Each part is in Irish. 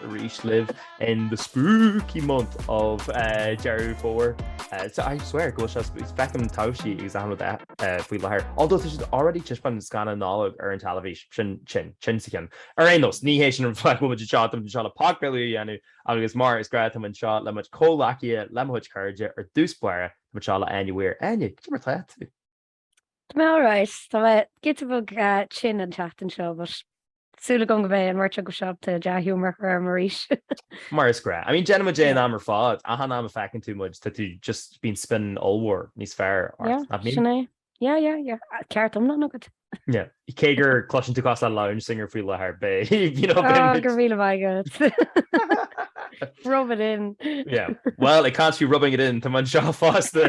arís libh in the spooky month of Deireadh Fómhair. So I swear go bhfuil sé feicim taibhsí achan áit faoi láthair. Although tá siad already taispeáin scannáin Nollag ar an teilifís, sin, sin, sin sa chionn. Ar aon nós, ní hé sin an fáth go bhfuil muid anseo, tá muid anseo le podchraoladh a dhéanamh agus mar is gnách tá muid anseo le mo chuid comhghleacaithe, le mo chuid cairde, ar dtús báire tá muid anseo le Áine Weir. Áine, cad é mar tá tú? Tá mé alright. Tá mé giota beag tinn an tseachtain seo but súil agam go mbeidh an beirt agaibhse ábalta dea-ghiúmar a chur orm arís. Mar is gnách. I mean déanann muid é in am ar fad. Achan am a feiceann tú muid tá just bíonn spion ollmhór níos fearr ort, not me? Yeah, sin é. Yeah, yeah, yeah. Ceart iomlán agat. Yeah. Cé gur cloiseann tú cosúil le Lounge Singer faoi láthair, beidh, you know, beidh muid. Go raibh míle maith agat. Rub it in. Yeah. Well, it can't be rubbing it in, tá muid anseo fosta.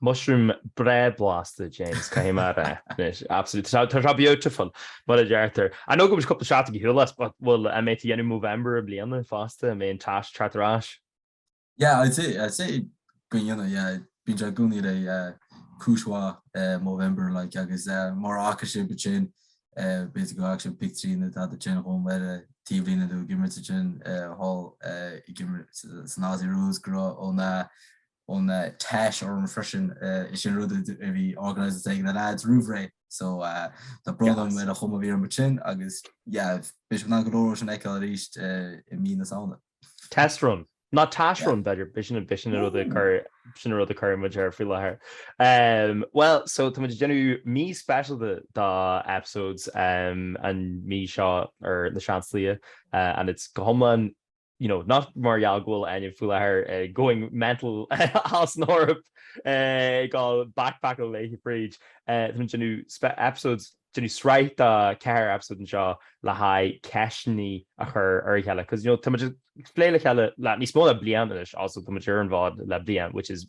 Mushroom breá blasta James caithfidh mé a rá anois absolutely tá tá sé beautiful mar a deirtear. I know go bhfuil cúpla seachtain go fóill but bhfuil an mbeidh tú ag déanamh Movember i mbliana fosta an mbeidh an tash ag teacht ar ais. Yeah I'd say I'd say go ndéanfaidh yeah bíonn sé i gcónaí ar chúis mhaith Movember like agus má fhaca sibh sin b'fhéidir go bhfaca sibh pictiúirí ná tada ansin dhom ar an taobhlíne nó ag imirt ansin thall ag imirt san Aussie Rules go raibh ón an tash orm freisin sin rud a bhí organiseáilte ag na lads Rouvray so tá brón orm faoin chuma a bhí orm ansin agus yeah beidh sibh in ann go leor sin a fheiceáil arís i mí na Samhna. Test run? Not tash run b'fhéidir b'shin an b'shin an rud a cuir b'shin an rud a cuireann muid air faoi láthair ehm bhuel so tá muid ag déanamh mí speisialta de episodes ehm an mí seo ar na Seansálaithe and it's go hiomlán you know, not mar gheall go bhfuil Áine faoi láthair ag going mental san Eoraip ag gabháil backpackáil léi fríd tá muid ag déanamh spe episode déanamh sraith de ceithre episode anseo le haghaidh ceisteanna a chur ar a chéile because you know tá muid ag plé le chéile le níos mó na bliain anois also tá muid ar an phod le bliain which is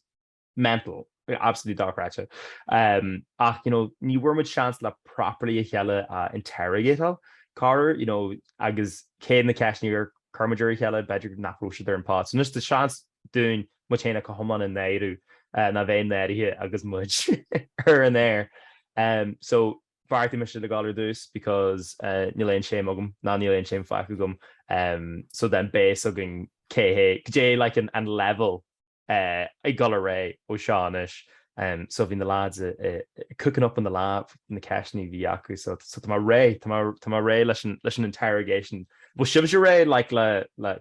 mental, absolutely dochreidte. Umm ach you know ní bhfuair muid seans le properly a chéile a interrogateáil i gceart you know agus cé na ceisteanna ar chuir muid ar a chéile b'fhéidir nach raibh siad ar an pod. So anois tá seans dúinn muid féin go hiomlán a náiriú nó bheith náirithe agus muid ar an aer. Umm so bheartaigh mise le gabháil ar dtús because eh níl aon shame agam ná níl aon shame faic agam umm so then beidh a fhios againn cé hé cad é like an level I gCo le Ré, Aoi seo anois, so bhí na lads cooking up in the lab na ceisteanna a bhí acu, so tá mé réidh, tá mé réidh leis an leis an interrogation. Bhfuil sibhse réidh like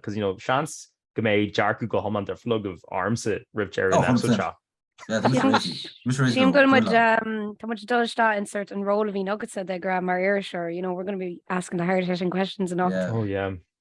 cos you know seans go mbeidh dearcadh go hiomlán difriúil agaibh ormsa roimh deireadh an episode seo. Yeah, tá mise réidh, tá mise réidh Sílim go bhfuil muid ag dul isteach in sort an ról a bhíonn agatsa de ghnáth mar iriseoir, you know we're going to be asking the hard hitting questions and all. Yeah. Oh yeah.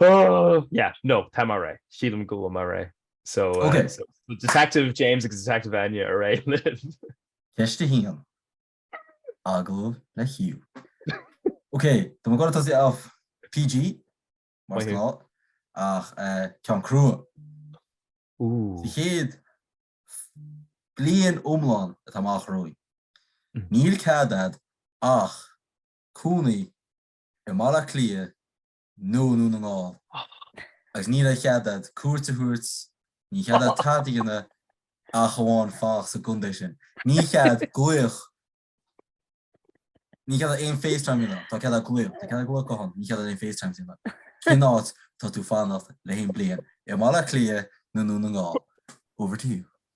Oh yeah no tá mé réidh. Sílim go bhfuil mé réidh. So Ok. so Detective James agus Detective Áine réidh. Ceist a haon. Agallamh le Hugh. Ok tá mé ag cur tús leis off PG, mar is gnáth, ach eh, ceann cruaidh. Ooh. Sa chéad bliain iomlán atá amach romhainn, Mhm. níl cead agat ach cónaí i mBaile Átha Cliath nó i nDún na nGall, agus níl cead agat cuairt a thabhairt, níl cead agat tada a dhéanamh ach amháin fanacht sa gcontae sin. Níl cead glaoch, níl cead agat aon FaceTime a dhéanamh, tá cead agat glaoch, tá cead agat glaoch go hon, níl cead agat aon FaceTime a dhéanamh. Cén áit atá tú fanacht le haghaidh an bliain, i mBaile Átha Cliath nó nDún na nGall? Over to you.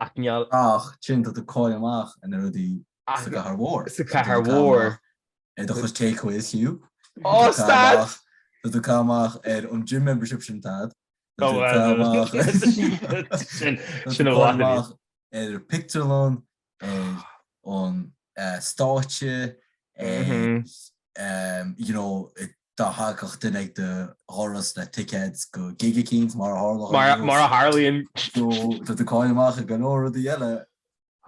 Ach sin tá tú ag cailleadh amach ar na rudaí sa gCathair Mhór. Sa Chathair Mhór. Ar do chuid takeaways Hugh. Oh stad! Tá tú ag cailleadh amach ar an gym membership sin stad. Do do cáil amach ar. Sin sin a bhláth le fios. Ar an pictiúrlann, ar an stáitse, ar you know, dá thagadh duine ag do dhoras le ticéad go Gig Eakins, mar a tharlódh Mar, anuas, mar a tharlaíonn. go bhfuil tú ag cailleadh amach ar go leor rudaí eile, céard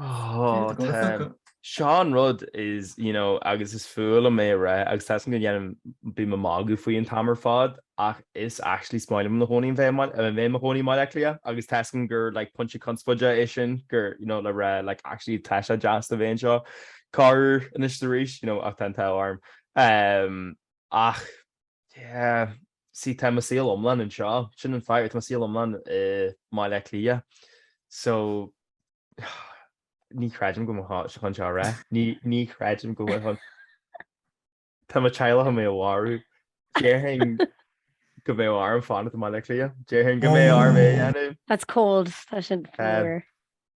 Oh, a gcuirfeadh tá. acu? Seo an rud is, you know, agus is fuath liom é a rá, agus tá a fhios agam go ndéanaim, bím ag magadh faoi an t-am ar fad, ach is actually is maith liom i mo chónaí bheith i mBaile, eh, bheith i mo chónaí i mBaile Átha Cliath, agus tá a fhios agam gur, like, pointe conspóide é sin, gur, you know, le rá, like, actually tá sé deas a bheith anseo corr anois is arís, you know, ach tá an t-ádh orm. Ach, sea, tá mo saol iomlán anseo. Sin an fáth, tá mo saol iomlán i mBaile Átha Cliath. So, ní chreidim go bhfuil mé chun seo a rá. Ní chreidim go mbeadh an, tá mo teaghlach chun mé a mharú. Déarfainn go mbeadh orm fanacht i mBaile Átha Cliath. Déarfainn go mbeadh orm é a dhéanamh. That's cold, tá sin fíor.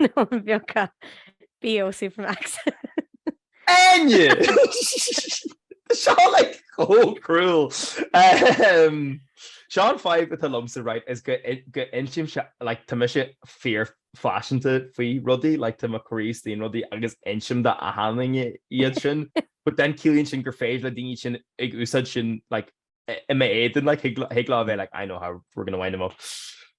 nó an bheocha BO Supermac's. Áine! Tá seo like chomh cruel! Ehm, Seo an fadhb atá liomsa right is go go insímse like tá mise fíorphaiseanta faoi rudaí like tá mo chroí istigh i rudaí agus insím do achan nduine iad sin but then ciallaíonn sin gur féidir le daoine ansin ag úsáid sin like i- i m'éadan like thig thig leo a bheith like I know how we're gonna wind him up.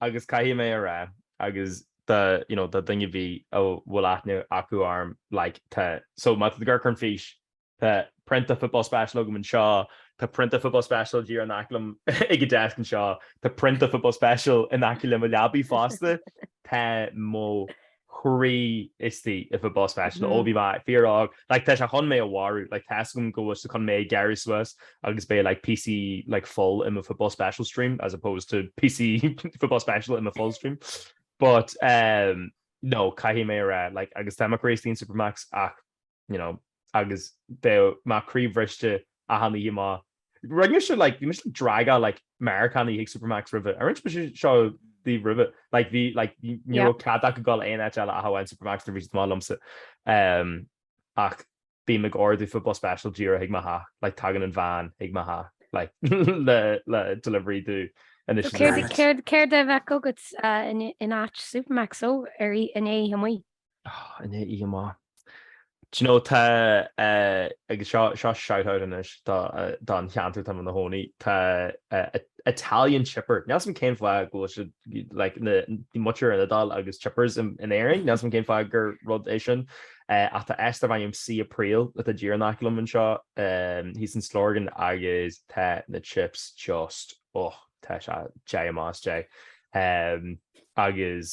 Agus caithfidh mé a rá, agus do, you know, do dhaoine a bhí, a bhfuil aithne acu orm, like, tá, so má tá tú ag amharc ar an fís, tá prionta Football Special agam anseo, tá prionta Football Special díreach in aice liom ag an deasc anseo, tá prionta Football Special in aice le mo leabaidh fosta, tá mo chroí istigh i Football Special ó bhí mé i m'fhear óg like tá sé chun mé a mharú like tá fhios agam go bhfuil siad chun mé a ghearradh suas agus beidh like píosaí like fuil i mo Football Special stream as opposed to píosaí Football Special i mo fuil stream but eh no caithfidh mé a rá like agus tá mo chroí istigh in Supermac's ach you know, agus bheadh mé croíbhriste achan oíche amach. Rinne mise like, bhí mise ag dragáil like Meiriceánaigh chuig Supermac's roimhe. Ar inis mise seo daoibh roimhe? Like bhí like ní Yeah. raibh cead acu dul aon áit eile ach amháin Supermac's nuair a bhí siad amach liomsa. Ehm, ach bím ag ordú football special díreach chuig mo theach. Like tagann an van chuig mo theach like le le delivery do and it's So just céard, like, céard, céard a bheadh agat ah, in, in áit Supermac's so ar oíche amuigh? Oíche amach. Do you know tá agus seo seo shout out anois do do an cheantar tá mé ina chónaí tá Italian chipper níl fhios agam cén fáth go bhfuil siad like na muintir an Iodáil agus chippers in Éirinn níl fhios agam cén fáth gur rud é sin ach tá áit darbh ainm C Aprile atá díreach in aice liom anseo thíos in Stillorgan agus tá na chips just oh tá sé deich amach as deich agus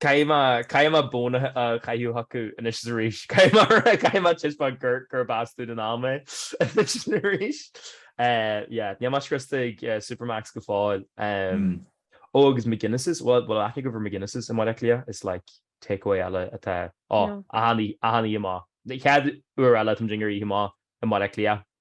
Caithfidh mé bonn a chaitheamh acu anois is arís. Caithfidh mé taispeáint gurb astú den am é anois is arís. Yeah, níl mé scriosta ag Supermac's go fóill. Ó agus McGuinness's, bhfuil aithne agaibh ar McGuinness's i mBaile Átha Cliath, it's like takeaway eile atá, á, achan oíche amach. Chéad uair eile tá muid ag iarraidh oíche amach i mBaile Átha Cliath.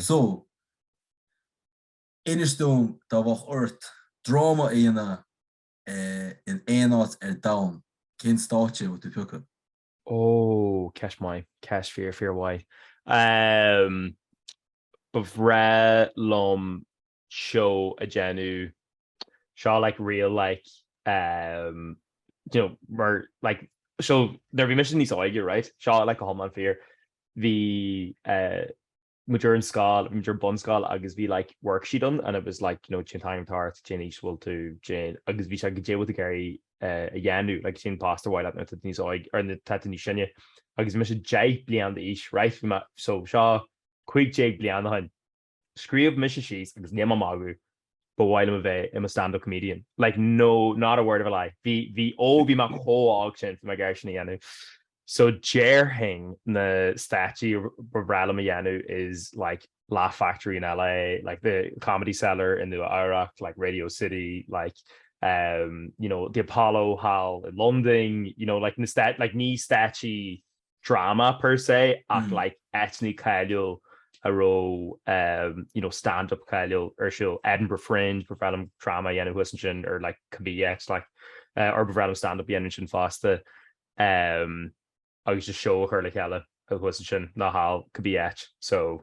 So, inis dom, dá bheadh ort dráma a dhéanamh in aon áit ar domhan, cén stáitse a bhfuil tú ag piocadh? Ó, ceist mhaith. Ceist fíor, fíor mhaith. Ba bhreá liom seó a dhéanamh seo like real like um you know mar like so nuair bhí mise níos óige right seo like go hiomlán fíor bhí eh muid ar an scoil bhí muid ar an bunscoil agus bhí like worksheet ann and it was like you know cén t-ainm atá ort cén aois a bhfuil tú cén agus bhí sé goidé a bhfuil tú ag iarraidh eh a dhéanamh like cén post ar mhaith leat nuair tá tú níos óige or nuair tá tú níos sine agus bhí mise deich bliana d'aois right bhí mé so seo 15 bliana ó shoin Scríobh mise síos agus níl mé ag magadh, ba mhaith liom a bheith i mo stand up comedian. Like no, not a word of a lie. Bhí, bhí, ó bhí mé chomh fhágtsinta mé gar sin a dhéanamh. So déarfainn na stáitsí ba bhreá liom a dhéanamh is like Laugh Factory in LA, like the Comedy Cellar i Nua Eabhrac, like Radio City, like um you know the Apollo Hall i Londain, you know like na stáit, like ní stáitsí dráma per se ach like áiteanna cáiliúil a raibh you know stand up cáiliúil ar siúl, Edinburgh Fringe ba bhreá liom dráma a dhéanamh thuas ansin or like cibé áit like or ba bhreá liom stand up a dhéanamh ansin fosta agus just seó a chur le chéile thuas ansin nó thall cibé áit so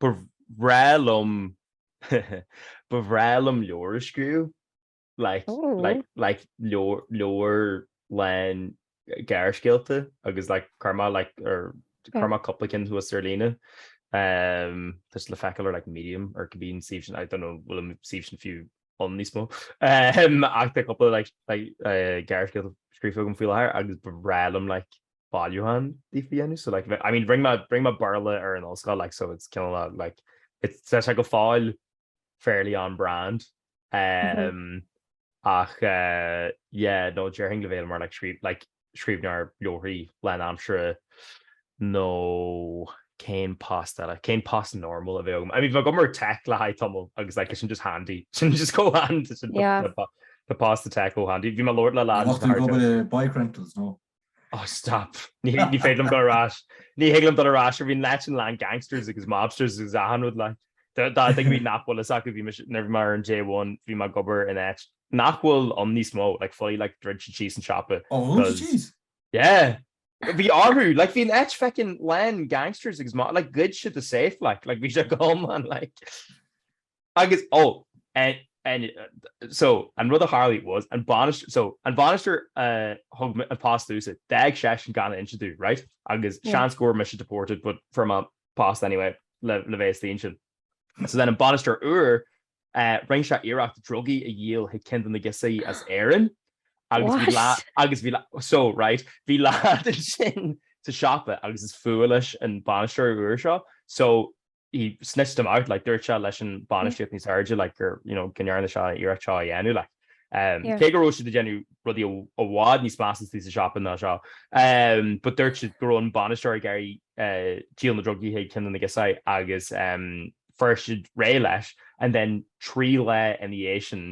Ba bhreá liom ba bhreá liom leabhar a scríobh, like, like, like, leabhar, leabhar lán gearrscéalta agus, like, chuir mé, like, or chuir mé cúpla ceann thuas ar líne. Tá siad le feiceáil ar, like, Medium or cibé an suíomh sin, I don't know, bhfuil an suíomh sin fiú ann níos mó. Ach tá cúpla, like, like, gearrscéalta scríofa agam faoi láthair agus ba bhreá liom, like, bailiúchán díofa, so like I mean rinne mé, rinne mé Béarla ar an ollscoil like so it's kind of that like it's tá sé go fóill fairly on brand um ach uh yeah no déarfainn le bheith mar like scríb- like scríbhneoir leabharthaí lánaimsire nó cén post eile, cén post normal a bheadh agam? I mean bhí mé ag obair i tech le haghaidh tamaill agus like sin just handy, sin just chomh handy, tá postanna tech chomh handy, bhí mé ag labhairt le lad... Bheadh tú ag obair i bike rentals nó? Oh, stop. Ní féidir liom dul arás. Ní féidir liom dul ar ais mar bhí an áit sin lán gangsters agus mobsters agus achan rud like. Do dhaoine nach bhfuil a fhios acu bhí nuair a bhí mé ar an J1 bhí mé ag obair in áit nach bhfuil ann níos mó like fully like druid siad síos an siopa. Ó dhruid siad síos? Yeah. Bhí orthu like bhí an áit feckin lán gangsters agus mob like ghoid siad the safe like like bhí sé go hiomlán like. Agus, ó, en, so, an rud a tharlaigh was, an bainisteoir, so, an bhainisteoir a thug an post domhsa, d'fhág seisean gan a insint dúinn, right? Agus seans go raibh mise deported, but fuair mé post anyway, le le bheith istigh ansin. So then an bainisteoir úr, eh, rinne sé iarracht drugaí a dhíol chuig ceann de na girseachaí as Éirinn, agus bhí lad, What? agus bhí lad, so, right, bhí lad ansin sa siopa agus is fuath leis an bainisteoir úr seo, so, he snitched him out, like, dúirt sé leis an bainistíocht níos airde, like, gur, you know, go ndearna sé an iarracht seo a dhéanamh, like. Um, yeah. Cé go raibh siad ag déanamh rudaí i bhfad níos measa istigh sa siopa ná seo, um, but dúirt siad go raibh an bainisteoir ag iarraidh uh, díol na drugaí chuig ceann de na girseachaí agus um, fuair siad réidh leis, and then trí lá ina dhiaidh sin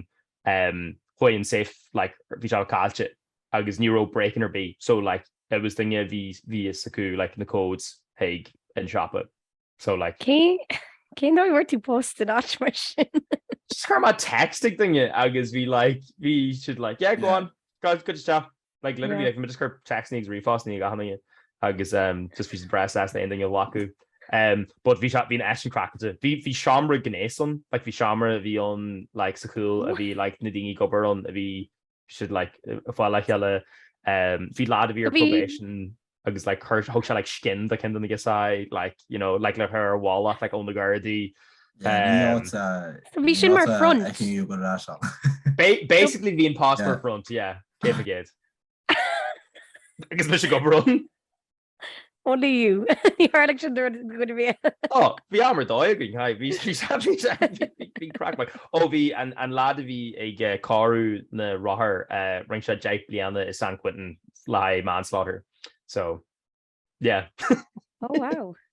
um, chuaigh an safe, like, bhí sé caillte. agus ní raibh break-in ar bith, so like it was duine a bhí bhí fhios acu like na codes chuig an siopa so like. Cén dóigh a bhfuair tú post in áit mar sin? Just chuir mé text ag duine agus bhí like bhí siad like yeah go on go go isteach like literally like mé just chuir textannaí agus ríomhphostannaí ag achan duine agus ehm just bhí siad breá sásta aon duine a ghlacadh ehm but bhí sé bhí an áit sin craiceáilte. Bhí bhí seomra gnéis ann like bhí seomra a bhí ann like sa chúl a bhí like na daoine ag obair ann a bhí should like fá le heile hí lá a bhí probation agus like her thug se like skin de kind na gesá like you know like le her wall off like on the gardi vi sin mar front basically vi imposter front yeah Ke gé agus me go run Only you. Ní tharlaigh sin nuair a gcuireadh mé. Ó, bhí am ar dóigh againn, hé, bhí, bhí, bhí, bhí, bhí craic maith. Ó bhí an, an leaid a bhí ag cóiriú na rothar, rinne sé deich bliana i San Quentin le haghaidh manslaughter. So, yeah. Ó wow.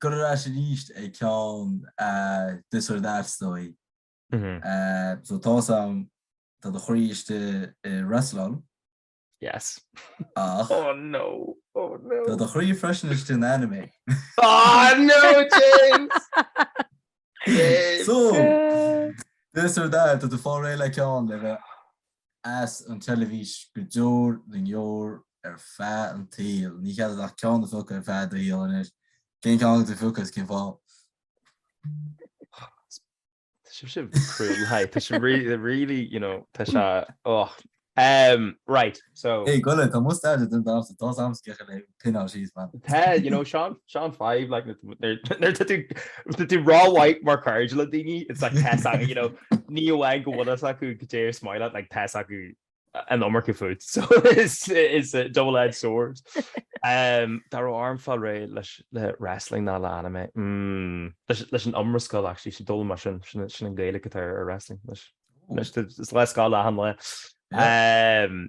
Gur ar ais aríst ag ceann This or That snoí. So tá's agam, tá do chroí istigh i wrestling. Yes. Ach. Oh no, oh no. Tá do chroí freisin istigh in Anime. Oh no, James! James! So, This or That, tá tú ag fáil réidh le ceann le bheith as an teilifís go deor na ndeor ar feadh an tsaoil. Níl cead agat ach ceann a phiocadh ar feadh do shaol anois. Cén ceann a phiocfá is cén fáth? Tá sibhse cruel hei. Tá sé really you know tá sé oh. Right so. Hey Goile, tá mustache ag an duine damhsa, tá's agam sceiche léi. penalties man Ted you know Sean Sean five like they're they're to do to do raw white more courage la dini it's like test you know ni wa go what like who could dare smile at like test like who an ommerke food so it's it's a double edged sword um dar arm fall ré leis le wrestling ná lána mé mm, leis an omrasá leí sé dul mar sin sin sin an gaiile gotar ar wrestling leis leis leá le han le um,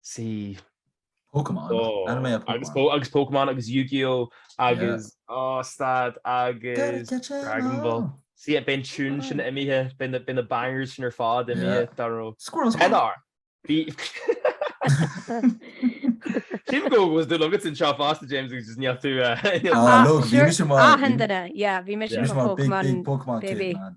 sí. Pokémon, anime é Pokémon. agus Pokémon agus Yu-Gi-Oh! agus oh stad agus Dragon Ball. Sea, beidh an tune sin imithe, beidh na bangers sin ar fad imithe dá raibh. Squirtle Squirtle! Sílim go bhfuil duine agat anseo fosta James agus níl tú. Bhí mise mar big Pokémon kid man.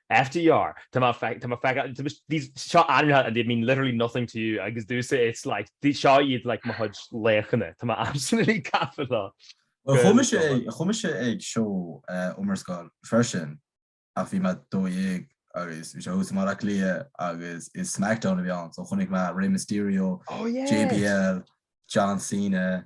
FTR, Tá mé feicthe, tá mé feicthe, tá mé, these, seo ainmneacha and they mean literally nothing to you agus domhsa it's like, these, seo iad like mo chuid laochanna, tá mé absolutely gafa leo. Bhuel, chuaigh mise ag, chuaigh mise ag seó iomrascáil freisin ach bhí mé 12 agus bhí sé thuas i mBaile Átha Cliath agus is Smackdown a bhí ann so chonaic mé Rey Mysterio, JBL, John Cena,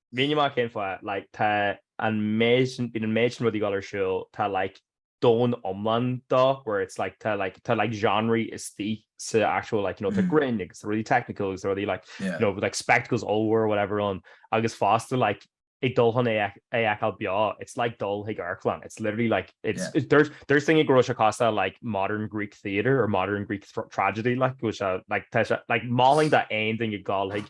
Mhínigh mé cén fáth, like, tá an méid, bíonn an méid sin rudaí ag dul ar siúl, tá, like, domhan iomlán dó, where it's like, tá, like, tá, like, genres istigh sa actual, like, you know, tá grinn agus tá rudaí technical agus tá rudaí, like, you know, with, like, spectacles over or whatever ann, agus fosta, like, ag dul chun é a fheiceáil beo, it's like dul chuig amharclann, it's literally, like, it's, Yeah. dúirt, dúirt duine éigin go raibh sé cosúil, like, modern Greek theatre or modern Greek thr- tragedy, like, go raibh sé, like, tá sé, like, mholfainn do aon duine ag dul chuig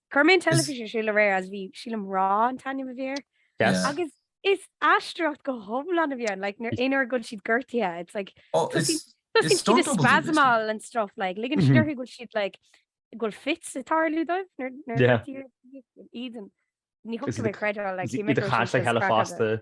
Chuir mé an teilifís ar siúl aréir is bhí, sílim, Raw an t-ainm a bhí air. Yes. Agus is aisteoireacht go hiomlán a bhí ann, like, nuair, aon uair go bhfuil siad gortuithe, it's like, Oh, is, tosaíonn, is tosaíonn siad stunt ag doubles a bhí siad. spasmáil and stuff, like, ligean siad orthu go bhfuil siad, like, go bhfuil fits ag tarlú dóibh nuair, nuair a Yeah. gortaíonn siad. Éadan, ní Is thugtaí iad mé a- creideamh, like, is ní iad a mithid go bhfuil chaith siad le ag ceile spleáchadh. fosta.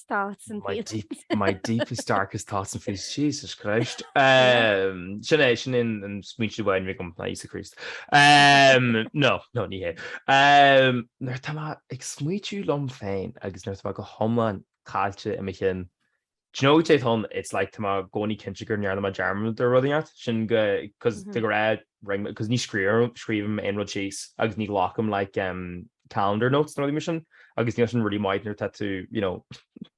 thoughts and My feelings. deep, my deepest, darkest thoughts and feelings, Jesus Christ. Um, sin é, sin é an smaoineamh amháin a bhí agam, Íosa Críost. Um, no, no, ní hé. Um, nuair tá mé ag smaoitiú liom féin agus nuair tá mé go hiomlán caillte i mo chinn, do you know what I'd done? It's like tá mé i gcónaí cinnte go ndearna mé dearmad ar rudaí, sin go, cos Mhm. de go raibh ring me, cos ní scríobhaim, scríobhaim aon rud síos agus ní ghlacaim like em calendar notes nó rudaí mar sin agus níl sin really maith nuair tá tú you know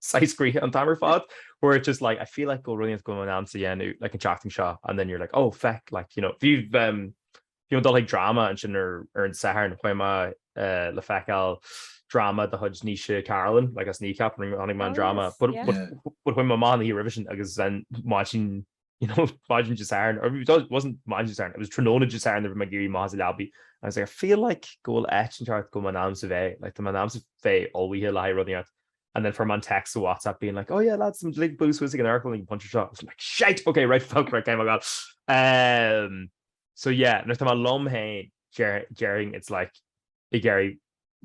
saghas gaoithe an t-am ar fad where it's just like I feel like go roinne go mbeidh mé in ann seo a dhéanamh like an tseachtain seo and then you're like oh feck like you know bhí em bhí mé ag dul chuig dráma ansin ar ar an Satharn chuaigh mé eh, le feiceáil dráma de chuid Naoise Caireallán like as Kneecap ring me tháinig mé an Oh dráma yes, but yeah. but yeah but chuaigh mé amach an oíche roimhe sin agus then maidin you know, maidin Dé Sathairn, or it wasn't maidin Dé Sathairn, it was tráthnóna Dé Sathairn, bhí mé ag iarraidh amach as an leabaidh, and I was like, I feel like go bhfuil áit inar cheart go mbeinn in ainm is a bheith, like tá mé in ainm is a bheith ullmhaithe le haghaidh rud éicint, and then fuair mé an text sa WhatsApp being like, oh yeah lads, beidh mé ag bualadh suas ag an Oracle ag an bpointe seo, I was like, shite, ok, right, fuck, right, caithfidh mé a ghabháil. Um, so yeah, nuair tá mé liom fhéin, déarfainn, it's like, ag iarraidh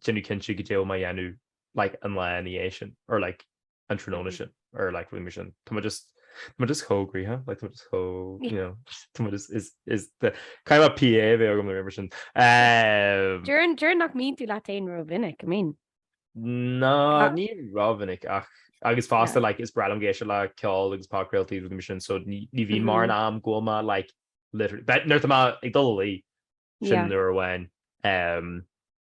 déanamh cinnte cad é a bhfuil mé dhéanamh like an lá ina dhiaidh sin or like an tráthnóna sin or like rud mar sin. Tá muid just tá muid just chomh gnaitheach like tá muid just chomh you know tá muid just is is dóigh kind of PA a bheith agam le rud mar sin. Um, Déarfainn déarfainn nach mbíonn tú leat aon ró mhinic, I mean. Nah Ah. ní rómhinic ach agus fosta like is breá liom ag éisteacht le ceol agus podchraoltaí rud mar sin so ní ní bhíonn mórán ama agam like literally but nuair tá mé ag dul a luí Yeah. sin an uair amháin. Um,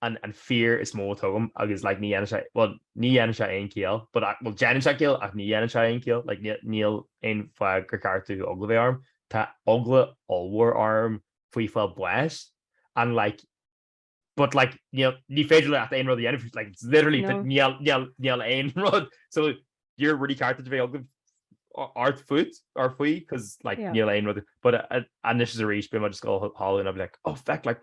an fear is mó atá agam agus like ní dhéanann sé, bhuel ní dhéanann sé aon chiall but ach, bhuel déanann sé ciall ach ní dhéanann sé aon chiall like níl, níl aon fáth gur cheart domh eagla bheith orm. Tá eagla ollmhór orm faoi fháil bháis and like but like níl, ní féidir liom actually aon rud a dhéanamh faoi like it's literally No. níl, níl, níl aon rud so níor really cheart duit a bheith eagla ort fút or faoi 'cause like Yeah. níl aon rud but a- anois is arís beidh mé just ag gabháil a luí and I'll be like oh feck like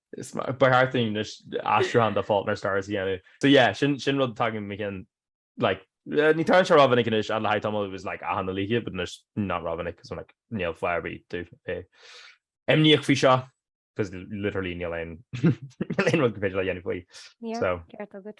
Ba cheart dúinn anois aistriúchán do Fault in Our Stars a dhéanamh. So yeah, sin, sin rud a thagann i mo chionn. Like, ní thagann sé ró-mhinic anois, ar feadh le haghaidh tamall it was like achan oíche, but anois not ró-mhinic, because I'm like, níl fáth ar bith domh a bheith imníoch faoi seo, because literally níl aon, níl aon rud go féidir leat a dhéanamh faoi. Yeah, so. ceart agat.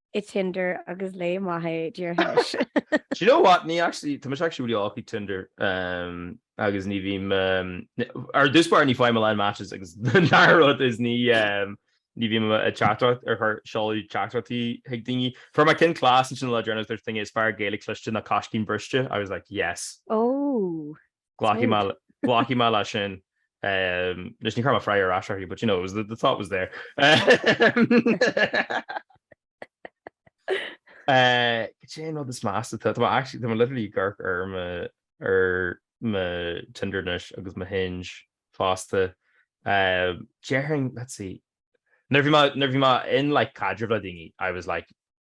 i Tinder agus léigh maith é, dear hais. Do you know what, ní actually, tá mise actually really olc ag Tinder ehm agus ní bhím ehm, ar dtús báire ní fhaighim a lán matches agus an dara rud is ní ehm ní bhím i mo teachtaireacht ar chur seoladh teachtaireachtaí chuig daoine. Fuair mé ceann class ansin le deireanas ar Hinge is fearr Gaeilge cliste ná coiscín briste, I was like yes. Ó! Glacfaidh mé glacfaidh mé leis sin. Anois ní chuir mé freagra ar ais air but you know, the the thought was there. Cad é an rud is measa atá, tá mé actually tá mé literally ag amharc ar mo ar mo Tinder anois agus mo Hinge fosta. Déarfainn, let's see, nuair a bhí mé nuair a bhí mé in like caidreamh le duine I was like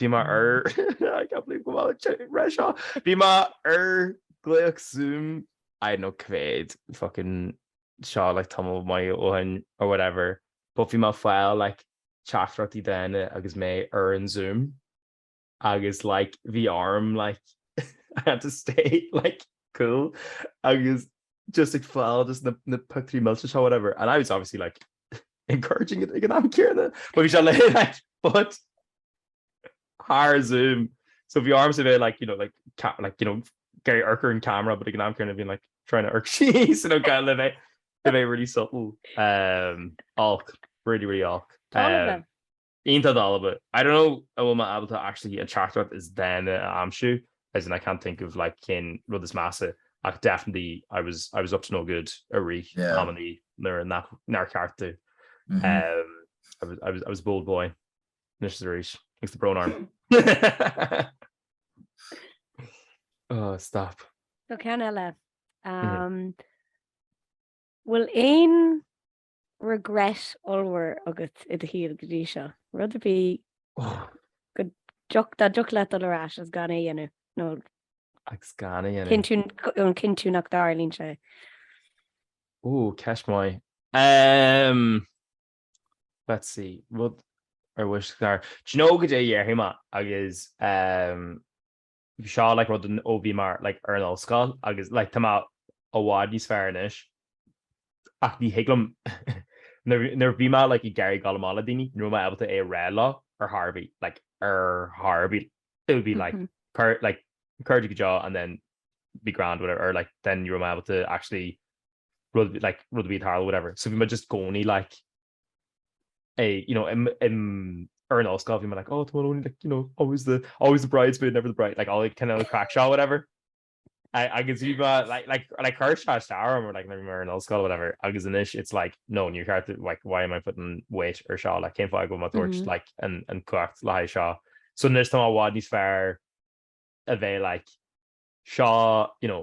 Bhí mé ar I can't believe go bhfuil mé ag rá seo! Bhí mé ar glaoch Zoom, I don't know cá fhad, fucking seo like tamall maith ó shin or whatever, but bhí mé ag fáil like teachtaireachtaí dána agus mé ar an Zoom agus like bhí orm like I had to stay like cool agus just ag fáil just na pictiúirí millte seo whatever and I was obviously like encouraging it ag an am céanna, but bhí sé le like, but thar zoom. So bhí ormsa a bheith like, you know, like, like, you know, ag amharc ar an camera, but ag an am céanna being like, trying to amharc síos you know gan le bheith le bheith really subtle. Um, olc, really, really olc. Um, Iontach dalba. I don't know an bhfuil mé ábalta actually an teachtaireacht is dána a aimsiú as in I can't think of like an rud is measa ach definitely I was I was up to no good i rith amannaí nuair nach nár cheart domh um I was I was I was a bold boy. Anois is arís agus tá brón orm oh stop. So ceann eile um bhfuil aon regret ollmhor agat i do shaol go dtí seo? Rud ar bith go dtiocfadh, dá dtiocfadh leat dul ar ais agus gan é a dhéanamh, nó Agus gan é a dhéanamh. cinntiú, an cinntiú nach dtarlaíonn sé? Ó, ceist maith. Ehm, let's see, rud I wish go n-aird. Do you know cad é a déarfaidh mé, agus ehm, seo like rud ó bhí mé like ar an ollscoil agus like tá mé i bhfad níos fearr anois ach ní thig liom nuair nuair a bhí mé like ag iarraidh gabháil amach le daoine ní raibh mé ábalta é a rá leo ar chor ar bith like ar chor ar bith it would be like cairde go deo and then be grand whatever or like then ní raibh mé ábalta actually rud like rud a bhí ag tarlú whatever so bhí mé just i gcónaí like a you know im im ar an ollscoil bhí mé like oh tomorrow like you know always the always the bridesmaid never the bride like all like kind of crack seo whatever a- agus bhí mé like like like chuir sé isteach orm like nuair bhí mé ar an ollscoil whatever agus anois it's like no níor cheart like why am I putting weight ar seo like cén fáth go bhfuil mé ag tabhairt mhm like an an chumhacht le haghaidh seo so anois tá mé i bhfad níos fearr a bheith like seo you know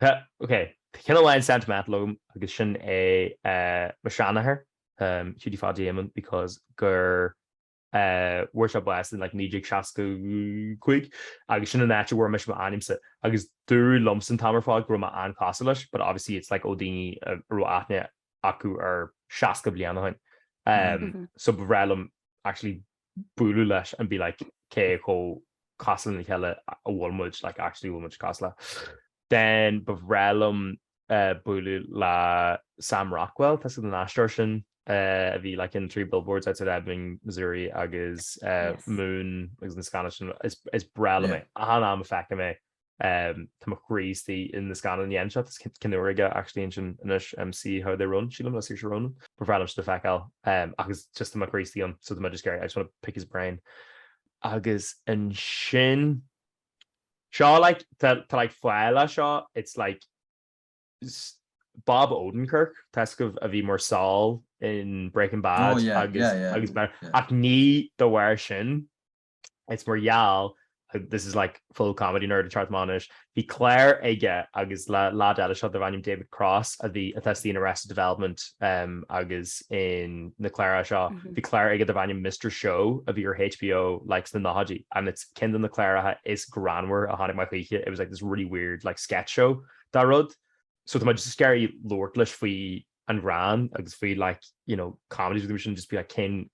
Tá ceann amháin sentimental agam agus sin é mo sheanathair, Hiúdaí Phádaí Éamoinn because gur bhfuair sé bás in like 1965 agus sin an áit a bhfuair mise m'ainmse agus dúradh liomsa an t-am ar fad go raibh mé an-cosúil leis but obviously it's like ó daoine a raibh aithne acu air 60 bliain ó shin. So ba bhreá liom actually bualadh leis and be like cé chomh cosúil lena chéile a bhfuil muid, like actually bhfuil muid cosúil le. Then ba bhreá liom bualadh le Sam Rockwell, tá a fhios agat an aisteoir sin a bhí like in Three Billboards Outside Ebbing, Missouri agus Moon agus na scannáin sin, is breá liom é, achan am a feicim é. Tá mo chroí istigh in na scannáin a dhéanann sé, is ceann úr aige actually ansin anois, See How They Run, sílim, le Saoirse Ronan, ba bhreá liom sin a fheiceáil, agus just tá mo chroí istigh ann, so tá mé just ag iarraidh, I just want to pick his brain. Agus ansin, seo like, tá like fella seo, it's like Bob Odenkirk, tá a fhios agat, a bhí mar Saul in Breaking Bad, agus, agus mar, ach ní de bharr sin, It's mar gheall, this is like full comedy nerd ag teacht amach anois, bhí clár aige agus lad eile seo darbh ainm David Cross a bhí, tá sé in Arrested Development agus in na cláir seo, bhí clár aige darbh ainm Mister Show a bhí ar HBO like sna nóchaidí and it's ceann de na cláracha is greannmhaire a chonaic mé choíche, it was like this really weird like sketch show de rud. So tá mé just ag iarraidh labhairt leis faoi an ghreann agus faoi like, you know, comedy agus rudaí mar sin and just be like cén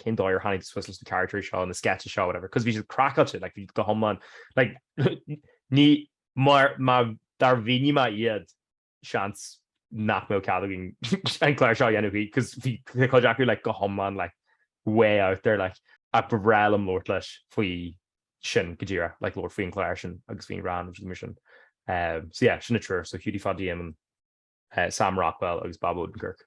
cén dóigh ar tháinig tú suas leis na carachtair seo, na sceitsí seo, whatever, cos bhí siad craiceáilte, like, bhí go hiomlán, like, ní, mar, má dár mhínigh mé iad, seans nach mbeadh cead againn an clár seo a dhéanamh choíche, cos bhí cuid acu, like, go hiomlán, like, way out there, like, ach ba bhreá liom labhairt leis faoi sin go díreach, like, labhairt faoin gclár sin agus faoin ghreann agus rud mar sin. Um, so yeah, sin an triúr, so Hiúdaí Phádaí Éamoinn, uh, Sam Rockwell agus Bob Odenkirk.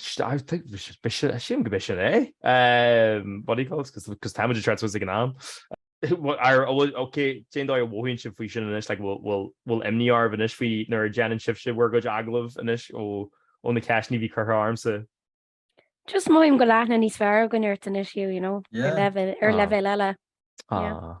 Sílim go b'é sin é. What do you call it? Because táimid ag teacht suas ag an am. Ar bhfuil, ok, cén dóigh a mhothaíonn sibh faoi sin anois, like, bhfuil imní oraibh anois faoi nuair a dhéanann sibhse bhur gcuid agallamh anois ó na ceistní a bhí curtha ormsa? Just mothaím go bhfuil aithne níos fearr againn ort anois, Hugh, you know, ar leibhéal eile. Aw.